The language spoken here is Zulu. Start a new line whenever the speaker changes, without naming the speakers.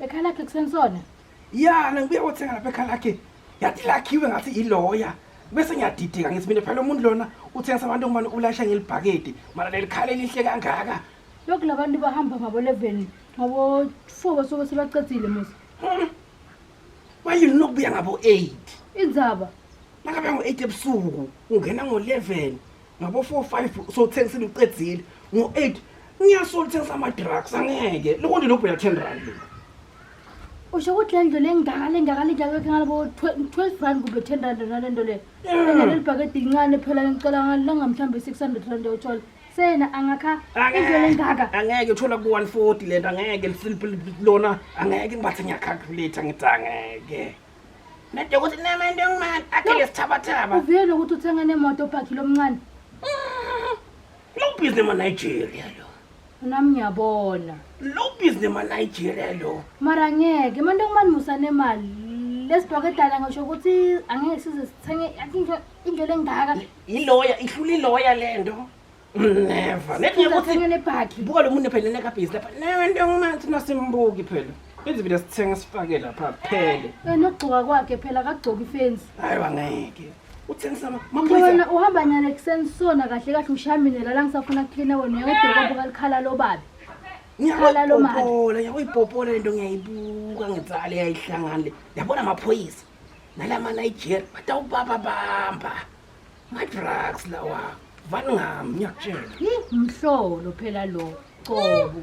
Ekhaya lakhe kusenisona?
Ya, nangibuya
kothenga lapha ekhaya lakhe. Yathi lakhiwe ngathi iloya. Bese ngiyadideka ngithi mina phela umuntu lona uthengisa abantu ngubani ulayisha ngelibhakede. Mara lelikhale lihle kangaka. Lokhu labantu
bahamba ngabo 11 ngabo 4 basuke sebaqedile musa. Hmm.
Bayini nokubuya ngabo 8. Indzaba.
Nakabuya ngo
8 ebusuku ungena ngo 11. ngabo 4 5 so thengisile uqedzile ngo 8 ngiyasola uthengisa ama drugs angeke lokho nje lobheka 10 rand lo
usho ukuthi le ndlela engakale engakale njalo ke ngalabo 12 rand kumbe 10 rand nale nto le leli bhakede lincane phela ngicela ngalanga mhlambe 600 rand yothola sena angakha indlela engaka angeke uthola ku
140 lento angeke lona angeke ngibathe ngiyacalculate ngithi angeke Nade ukuthi nemento engimani akhele sithabathaba. Uvele ukuthi uthenga
nemoto obhakhi lomncane.
Lo business ma Nigeria lo. Nami
ngiyabona. Lo business
ma Nigeria lo. Mara ngeke
manje ngimani musa nemali. Lesibhoke dala ngisho ukuthi angeke size sithenge into into lengaka. Iloya ihlula
iloya lento. Never. Never ukuthi Ngithenge nebhakhi. buka lo muntu
phela nekabhizi
lapha. Never into engimanzi nasimbuki phela. Ithi vile sithenga sifake lapha phele. Eh, Nokugcoka kwakhe
phela akagcoki ifensi. Hayi wangeke.
Uthengisa ma- maphoyisa. Wena
uhamba nyala
ekuseni
sona kahle kahle ushaminela la ngisafuna kucleana wena uyawudokwa buka likhala lobabi. Khala lo mali. Ngiyayipopola,
ngiyayipopola lento ngiyayibuka ngitsale yayihlangana le. Yabona amaphoyisa. Nalama Nigeria batawubaba bamba. madrugs lawa vani
ngami
ngiyakutshela mhlolo phela lo qobo